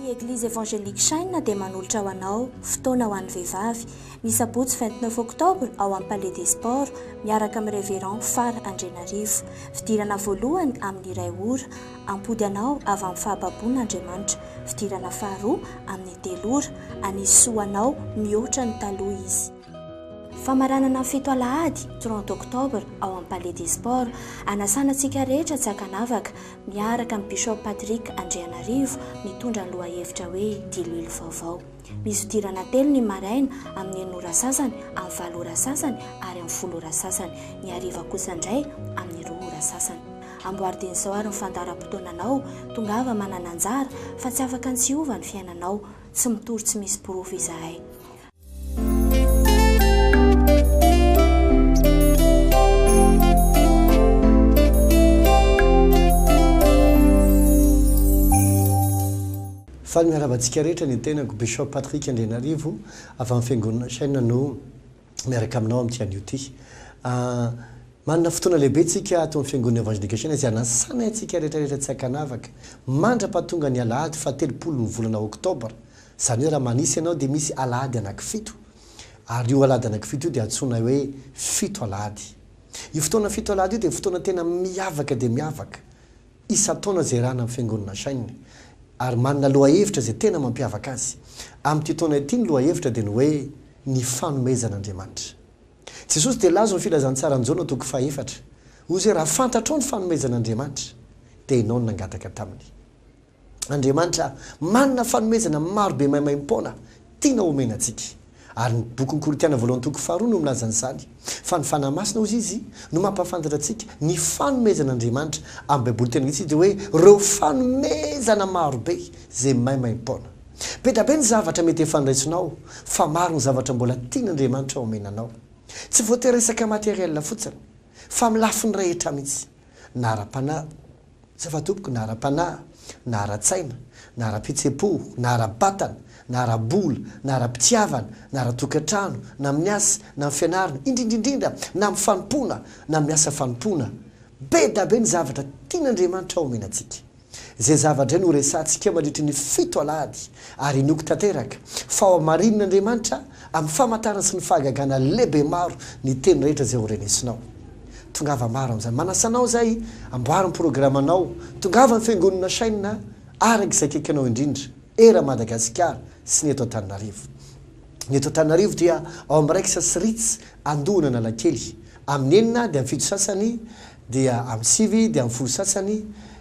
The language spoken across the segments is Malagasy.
Ny Eglizy Evangelique Shine dia manolotra ho anao Fotoana ho an'ny Vehivavy, ny sabotsy vingt neuf octobre ao amin'ny Palais des Sports, miaraka amin'ny Révérend Fara Andrianarivo. Fidirana voalohany amin'ny iray ora, hampody anao avy amin'ny fahababoana Andriamanitra. Fidirana faharoa amin'ny telo ora, hanisy soa ho anao mihoatra ny taloha Izy. Famaranana fito alahady, trente octobre, ao amin'ny Palais des Sports, hanasana antsika rehetra tsy ankanavaka. miaraka amin'i Bishop Patrick Andrianarivo mitondra ny lohahevitra hoe Diloilo vaovao. Misy fidirana telo ny maraina, amin'ny enina ora sasany, amin'ny valo ora sasany ary amin'ny folo ora sasany. Ny hariva kosa indray amin'ny roa ora sasany. Amboaridiny sao ary ny fandaharam-potoananao, tongava manana anjara fa tsy afaka ny tsy hiova ny fiainanao. Tsy mitory tsy misy porofo izahay. Faly miarahaba antsika rehetra ny tenako Bishop Patrick Andrianarivo avy amin'ny Fiangonana Shane no miaraka aminao amin'ity anio ity. Ah, manana fotoana lehibe tsika ato amin'ny Fiangonana Evangelika Shane izay anasanay antsika rehetra rehetra tsy ankanavaka. Mandrapahatonga ny Alahady faha telopolo ny volana Oktobra Izany hoe raha manisa ianao dia misy alahady anankifito ary io alahady anankifito io dia antsoina hoe fito alahady. Io fotoana fito alahady io dia fotoana tena miavaka dia miavaka isan-taona izay ràna amin'ny Fiangonana Shin ary manana lohahevitra izay tena mampiavaka azy. Amin'ity taona ity ny lohahevitra dia ny hoe Ny Fanomezan'Andriamanitra. Jesosy dia lazo ny Filazantsaran'i Jaona toko fahefatra. Hoy Izy hoe raha fantatrao ny fanomezan'Andriamanitra dia ianao no nangataka taminy. Andriamanitra manana fanomezana maro be maimaim-poana tiana homena antsika. Ary ny bokin'ny Korintiana voalohany toko faharoa no milaza an'izany, fa ny Fanahy Masina, hoy izy, no mampahafantatra antsika ny fanomezan'Andriamanitra. Amin'ny Baiboly tena vitsy dia hoe ireo fanomezana maro be izay maimaim-poana. Be dia be ny zavatra mety efa noraisinao, fa maro ny zavatra mbola tian'Andriamanitra homena anao. Tsy voatery resaka materiel fotsiny, fa amin'ny lafiny rehetra mihitsy, na ara-panahy, Tsy afa tompoko na ara panahy, na ara tsaina, na ara pitsepo, na ara batana, na ara bola, na ara pitiavana, na ara tokatrano, na amin'ny asa, na amin'ny fianarana, indrindra indrindra na amin'ny fanompoana, na amin'ny asa fanompoana. Be da be ny zavatra tian' Andriamanitra ho omena antsika. Izay zava dray no ho resahantsika mandritry ny fito alahady, ary inoako tanteraka fa ho hamarihin' Andriamanitra amin'ny famantarana sy ny fahagagana lehibemaro ny teny rehetra izay ho renesinao. Tongava maro amin'izany. Manasa anao izay amboary ny programanao. Tongava ny fiangonana Shine a! araka izay akaikinao indrindra era Madagasikara sy ny eto Antananarivo. Ny eto Antananarivo dia ao amin'ny Rex sy Ritz Andohan'Analakely. Amin'ny enina dia amin'ny fito sasany, dia amin'ny sivy dia amin'ny folo sasany,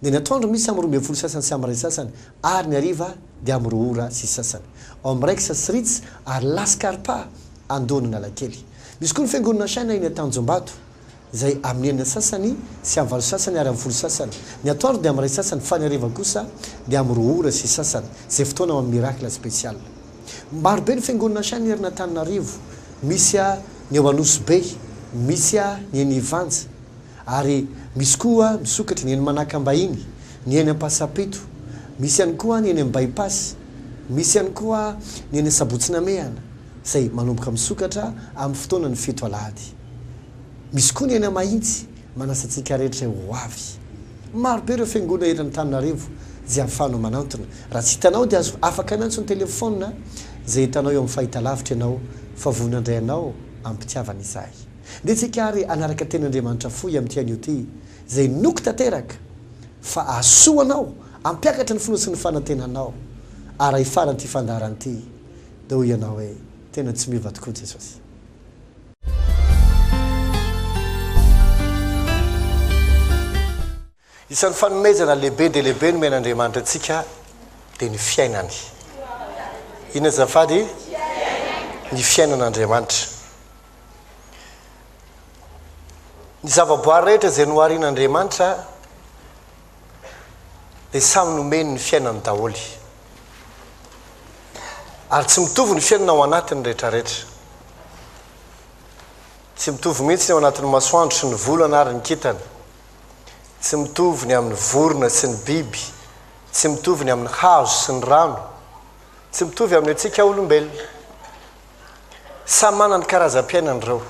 dia ny atoandro misy amin'ny roa ambin'ny folo sasany sy amin'ny iray sasany ary ny hariva dia amin'ny roa ora sy sasany. Ao amin'ny Rex sy Ritz ary La Scarpa Andohan'Analakely. Misy koa ny Fiangonana Shina eny Antanjombato, izay amin'ny enina sasany sy amin'ny valo sasany ary amin'ny folo sasany. Ny atoandro dia amin'ny iray sasany fa ny hariva kosa dia amin'ny roa ora sy sasany, izay fotoana ho amin'ny Miracle Special. Maro be ny Fiangonana Shina erin' Antananarivo, misy ny eo Anosibe, misy ny eny Ivanja, ary misy koa misokatra ny eny Manakambahiny, ny eny Ampasapito, misy ihany koa ny eny amin'ny By-pass, misy ihany koa ny eny Sabotsy Namehana. izay manomboka misokatra amin'ny fotoanan'ny fito alahady. Misy koa ny any Mahitsy, manasa antsika rehetra ho avy. Maro be ireo fiangonana eto Antananarivo izay ahafahanao manantona. Raha tsy hitanao dia azo afaka miantso ny telefaonina izay hitanao eo amin'ny fahitalavitra ianao fa vonona handray anao am-pitiavana izahay. Ndeha tsika ary hanaraka teny Andriamanitra fohy amin'ity anio ity izay inoako tanteraka fa ahasoa anao hampiakatra ny finoa sy ny fanantenanao ara hifaran'ity fandaharana ity. Dia hoy ianao hoe, Tena tsy miova tokoa Jesosy. Isan'ny fanomezana lehibe dia lehibe nomen'Andriamanitra antsika dia ny fiainany. Inona azafady? Ny fiainan'Andriamanitra. Ny zavaboary rehetra izay noharin'Andriamanitra dia samy nomeny ny fiainany daholo. Ary tsy mitovy ny fiainana ao anatiny rehetrarehetra. Tsy mitovy mihitsy ny ao anatin'ny masoandro sy ny volana ary ny kintana. Tsy mitovy ny amin'ny vorona sy ny biby. Tsy mitovy ny amin'ny hazo sy ny rano. Tsy mitovy amin'ny antsika olombelona. Samy manana ny karazam-piainany ireo.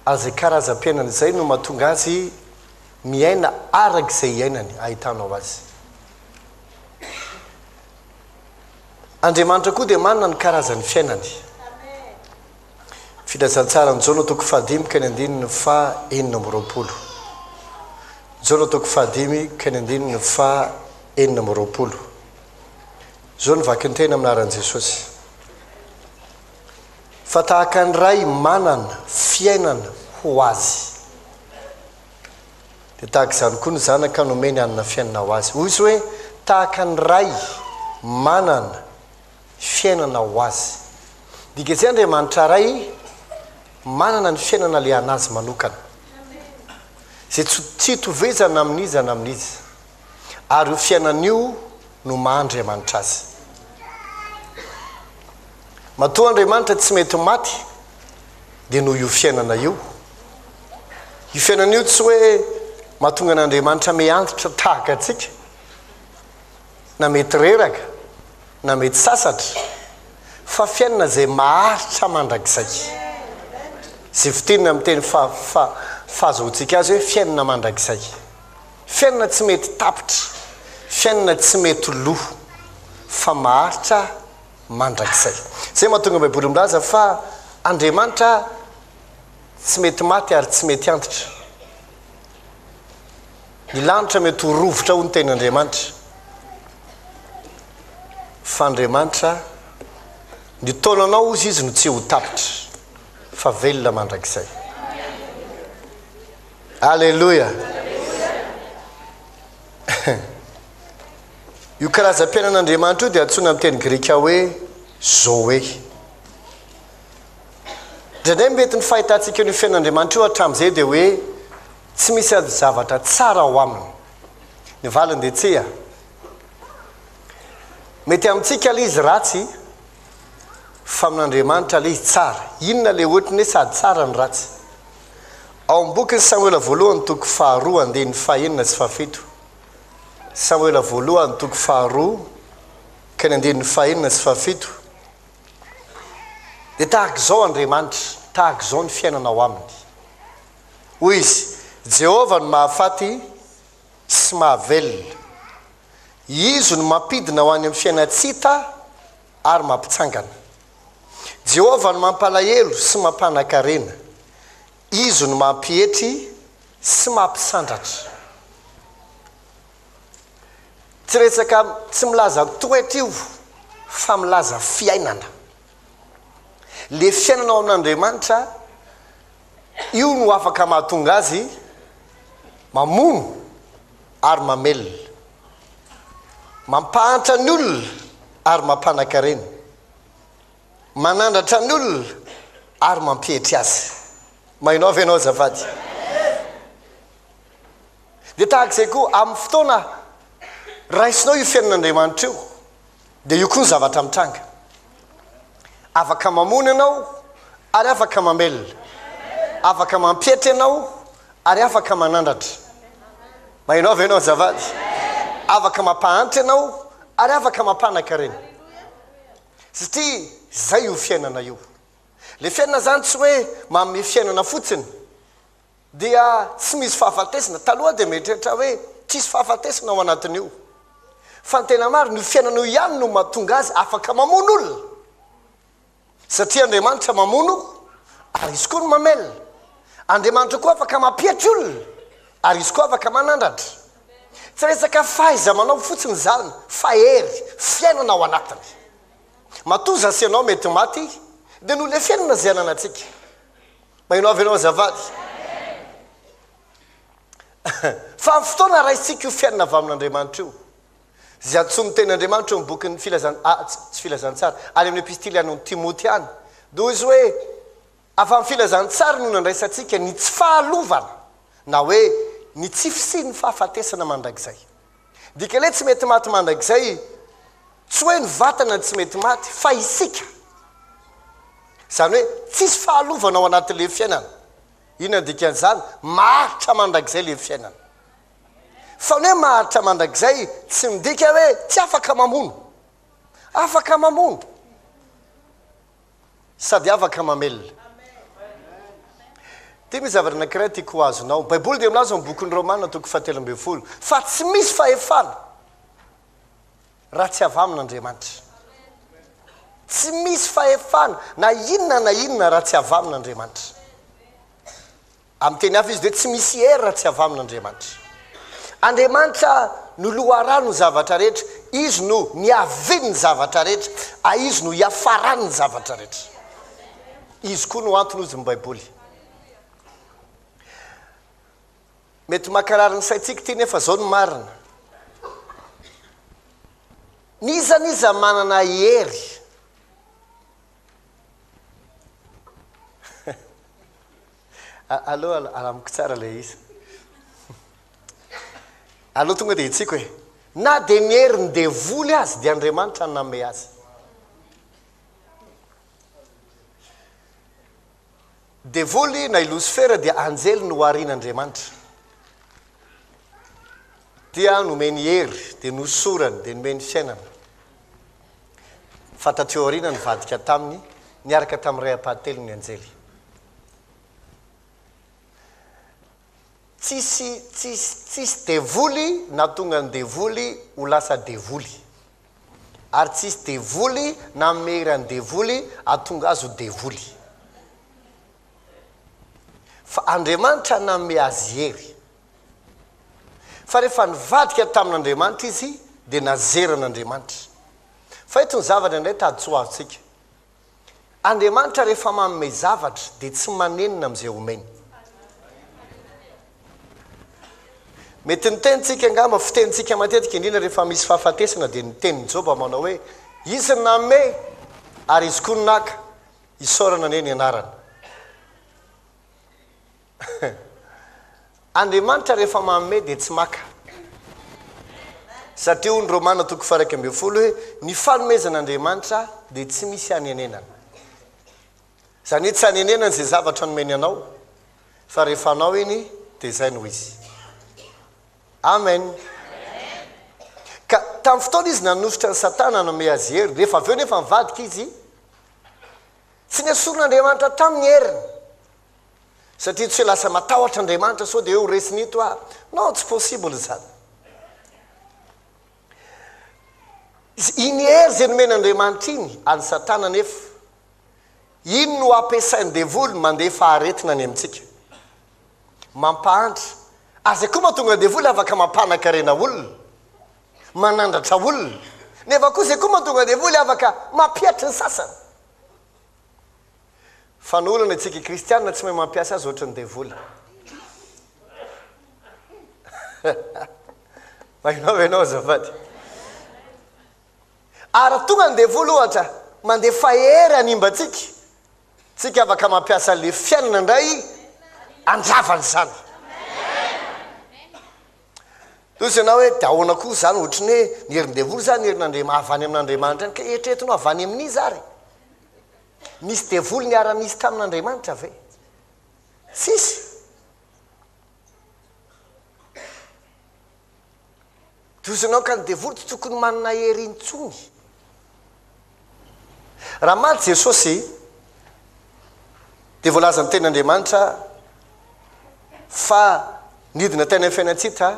Ary izay karazam-piainany izay no mahatonga azy miaina araka izay iainany, ahitanao azy. Andriamanitra koa dia manana ny karazan'ny fiainany. Filazantsaran'i Jaona toko fahadimy ka ny andininy faha enina amby roapolo. Jaona toko fahadimy ka ny andininy faha enina amby roapolo. Izao ny vakintena amin'ny anaran'i Jesosy. Fa tahaka ny Ray manana fiainana ho azy. Dia tahaka izany koa ny zanaka nomeny hanana fiainana ho azy. Hoy Izy hoe, Tahaka ny ray manana fiainana ho azy. Midika izay Andriamanitra Ray manana ny fiainana le an'Azy manokana. Izay tsy tsy itovizana amin'iza na amin'iza. ary io fiainana io no maha Andriamanitra azy. Matoa Andriamanitra tsy mety maty, dia noho io fiainana io. Io fiainana io tsy hoe mahatonga an'Andriamanitra mihantitra tahaka antsika, na mety reraka, na mety sasatra, fa fiainana izay maharitra mandrakizay. Izay fitinina amin'ny teny fa, fa, fahazoantsika azy hoe fiainana mandrakizay. Fiainana tsy mety tapitra, fiainana tsy mety lo, fa maharitra mandrakizay. Izay no mahatonga ny Baiboly milaza fa Andriamanitra tsy mety maty ary tsy mety antitra. Ny lanitra mety ho rovitra hoy ny tenin'Andriamanitra, fa Andriamanitra, ny taonanao hozy Izy no tsy ho tapitra, fa velona mandrakizay. Aleloia! Io karazam-piainan'Andriamanitra io dia antsoina amin'ny teny grika hoe zoe. Indraindray mety ny fahitantsika io fiainan'Andriamanitra io hatramin'izay dia hoe tsy misy ady zavatra tsara ao aminy. Ny valiny dia tsia. Mety amintsika ilay izy ratsy fa amin'Andriamanitra ilay izy tsara. Inona ilay ohatry ny hoe sady tsara ny ratsy? Ao amin'ny bokin'i Samoela Voalohany toko faharoa andininy fahenina sy fahafito, Samoela Voalohany toko faharoa ka ny andininy fahenina sy fahafito, dia tahaka izao Andriamanitra, tahaka izao ny fiainana ao aminy. Hoy izy, Jehovah no mahafaty sy mahavelona. Izy no mampidina ho any amin'ny fiainantsita ary mampitsangana. Jehovah no mampalahelo sy mampanan-karena. Izy no mampietry sy mampisandratra. Tsy resaka tsy milaza toetra io fa milaza fiainana. Ilay fiainana ao amin'Andriamanitra, io no afaka mahatonga azy mamono. ary mamelona, mampahantra ny olona ary mampanakarena, manandratra ny olona ary mampietry azy. Mahinao ve ianao azafady? Dia tahaka izay koa, amin'ny fotoana raisinao io fiainan'Andriamanitra io, dia io koa ny zavatra mitranga. Afaka mamono ianao ary afaka mamelona. Afaka mampietry ianao ary afaka manandratra. Mahinao ve ianao azafady? Afaka mampahantra ianao ary afaka mampanakarena. Satria izay io fiainana io. Le fiainana zany tsy hoe manome fiainana fotsiny dia tsy misy fahafatesana. Taloha dia mieritreritra aho hoe tsisy fahafatesana ao anatin'io. Fa ny tena marina, io fiainana io ihany no mahatonga azy afaka mamono olona. Satria Andriamanitra mamono ary izy koa no mamelona. Andriamanitra koa afaka mampietry olona ary izy koa afaka manandratra. Tsy resaka fahaiza-manao fotsiny izany fa hery, fiainana ao anatiny. Matoa za sy ianao mety maty dia noleferina izay ananantsika. Maheno avy ianao azafady. Fa amin'ny fotoana raisintsika io fiainana avy amin'Andriamanitra io, izay antsoin'ny tenin'Andriamanitra eo amin'ny bokin'ny filazan ah, tsy filazantsara, any amin'ny epistily any amin'ny Timoty any, noho izy hoe avy amin'ny filazantsara no nandraisantsika ny tsy fahalovana, na hoe ny tsy fisian'ny fahafatesana mandrakizay. Dika le tsy mety maty mandrakizay tsy hoe ny vatana tsy mety maty fa isika zany hoe tsisy fahalovana ao anaty le fiainana ina ny dika an'izany maharitra mandrakizay le fiainana fa ny hoe maharitra mandrakizay tsy midika hoe tsy afaka mamono afaka mamono sady afaka mamelona. Dia misy zavatra anankiray tiako ho azonao. Ny Baiboly dia milaza ao amin'ny bokin'ny Romana toko fahatelo ambin'ny folo fa tsy misy fahefana raha tsy avy amin'Andriamanitra. Tsy misy fahefana na inona na inona raha tsy avy amin'Andriamanitra. Amin'ny teny hafa izy dia tsy misy hery raha tsy avy amin' Andriamanitra. Andriamanitra no loharano ny zavatra rehetra, Izy no niavin' ny zavatra rehetra, a Izy no iafaran' ny zavatra rehetra. Izy koa no antony hozy ny Baiboly. Mety makarary ny saintsika ity nefa izao no marina, N'iza n'iza manana hery Allo, amiko tsara ilay izy. Allo tonga dia hitsiko e. Na dia ny herin'ny devoly azy dia Andriamanitra no nanome azy. Devoly na i Losifera dia anjely noharin' Andriamanitra. Dia nomeny hery, dia nosorany, dia nomeny fiainana. Fa taty aoriana nivadika taminy, niaraka tamin'ny ray ampahatelony ny anjely. Tsisy tsisy tsisy devoly nahatonga ny devoly ho lasa devoly. Ary tsisy devoly nanome hery an'ny devoly hahatonga azy ho devoly. Fa Andriamanitra nanome azy hery. Fa rehefa nivadika tamin'Andriamanitra izy dia nazeran'Andriamanitra. Fa eto ny zavatra indray tahadsoa azontsika. Andriamanitra rehefa manome zavatra dia tsy manenina amin'izay omeny. Mety ny tenintsika angamba, fitenintsika matetika indrindra rehefa misy fahafatesana dia ny tenin'i Joba manao hoe, Izy no nanome ary Izy koa no naka, isaorana anie ny anarany. Andriamanitra rehefa manome dia tsy maka. Satria hoy ny Romana toko faha-iraika ambin'ny folo hoe ny fanomezan'Andriamanitra dia tsy misy hanenenana. Izany hoe tsy hanenenana izay zavatra nomeny anao fa rehefa anao iny dia izay no izy. Amen. Ka tamin'ny fotoana izy nanosotra ny satana nanome azy hery, rehefa avy eo nefa nivadika izy, tsy nesorin'Andriamanitra taminy ny heriny. satria tsy lasa matahotra Andriamanitra sao dia ho resiny ito aho non tsy possible izany iny hery izay nomena Andriamanitra iny an'i satana nefa iny no ampiasain'ny devoly mandefa aretina any amintsika mampahantra ary izay koa mahatonga ny devoly afaka mampanakarena olona manandratra olona nefa koa izay koa mahatonga ny devoly afaka mampiatry ny sasany Fanolana isika kristianina tsy mahay mampiasa azy ohatry ny devoly. Mahinao ve ianao azafady? Ary tonga ny devoly ohatra mandefa hery hanimba antsika. Tsika afaka mampiasa le fiainana indray handravana izany. Toy izay ianao hoe dia ahoana koa izany ohatry ny hoe ny herin-devoly izany ny herin'Andriamanitra avy any amin'Andriamanitra any ka eritreretinao avy any amin'iza ary? Nisy devoly niara-nisy tamin'Andriamanitra ve? Tsisy. Dozonao ka ny devoly tsy tokony manana hery intsony. Raha maty Jesosy, dia voalazan'ny tenin'Andriamanitra fa nidina tany amin'ny fiainantsita,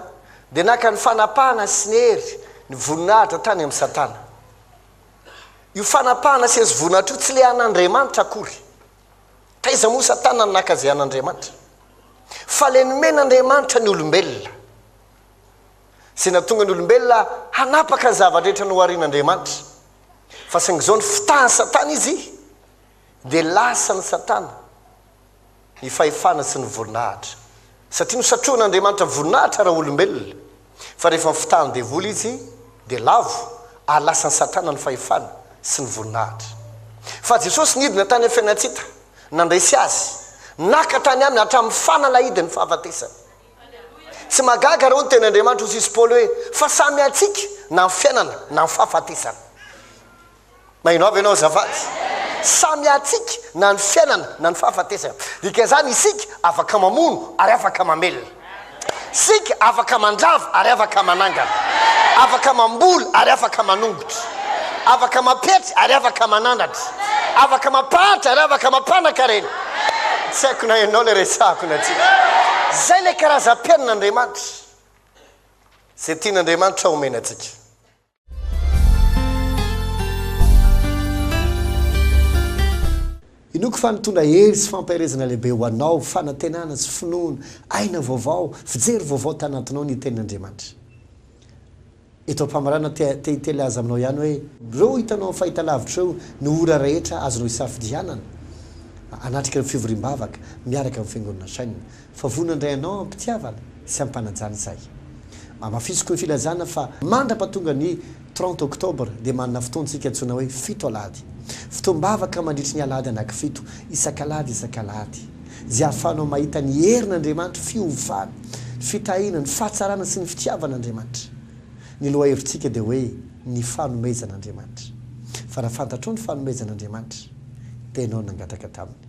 dia naka ny fanapahana sy ny hery, ny voninahitra tany amin'i Satana. Io fanapahana sezovonahitra io tsy le an'Andriamanitra akory. Taiza moa Satana no naka izay an'Andriamanitra? Fa le nomen'Andriamanitra ny olombelona. Izay nahatonga ny olombelona hanapaka ny zava-drehetra noharian'Andriamanitra. Fa saingy izao ny fitahan'i Satana izy dia lasan'i Satana. ny fahefana sy ny voninahitra, satria nosatrohan'Andriamanitra voninahitra ara-olombelona, fa rehefa mifitahan'ny devoly izy dia lavo ary lasan'i Satana ny fahefana sy ny voninahitra. Fa Jesosy nidina tany amin'ny fiainan-tsita, nandresy azy, naka tany aminy hatramin'ny fanalahidin'ny fahafatesany. Tsy mahagaga raha hoy ny teny Andriamanitra ho sisy Paoly hoe, fa samy antsika na ny fiainana na ny fahafatesana. Maheno avy ianao azafady? Samy hatsiaka na ny fiainana na ny fahafatesana. Dikan'izany isika afaka mamono ary afaka mamelona. Isika afaka mandrava ary afaka manangana. Afaka mamboly ary afaka manongotra. Afaka mampietry ary afaka manandratra. Afaka mampahantra ary afaka mampanan-karena. Tsy haiko na ianao ilay resahako na tsia. Izay ilay karazam-piainan'Andriamanitra. Izay tian'Andriamanitra homena antsika. Inoako fa nitondra hery sy fampaherezana lehibe ho anao, fanantenana sy finoana, aina vaovao, fijery vaovao tanatinao ny Tenin'Andriamanitra. Eto am-pamaranana te, te hitelaza aminao ihany hoe, ireo hitanao amin'ny fahitalavitra ireo no ora rehetra azonao isafidianana hanatrika ny fivoriam-bavaka miaraka amin'ny Fiangonana Shine. Fa voa nandray anao am-pitiavana sy am-panajana izahay. Amafisiko ny filazana fa mandrapa tonga ny trente octobre dia manana fotoantsika antsoina hoe fito alahady. Fotoam-bavaka mandritry ny alahady anakifito, isak'alahady isak'alahady. Izay ahafahanao mahita ny herin' Andriamanitra, fiovana, fitahiana, ny fahatsarana sy ny fitiavan' Andriamanitra. Ny lohahevitsika dia hoe ny fanomezan' Andriamanitra. Fa raha fantatrao ny fanomezan' Andriamanitra dia ianao no nangataka taminy.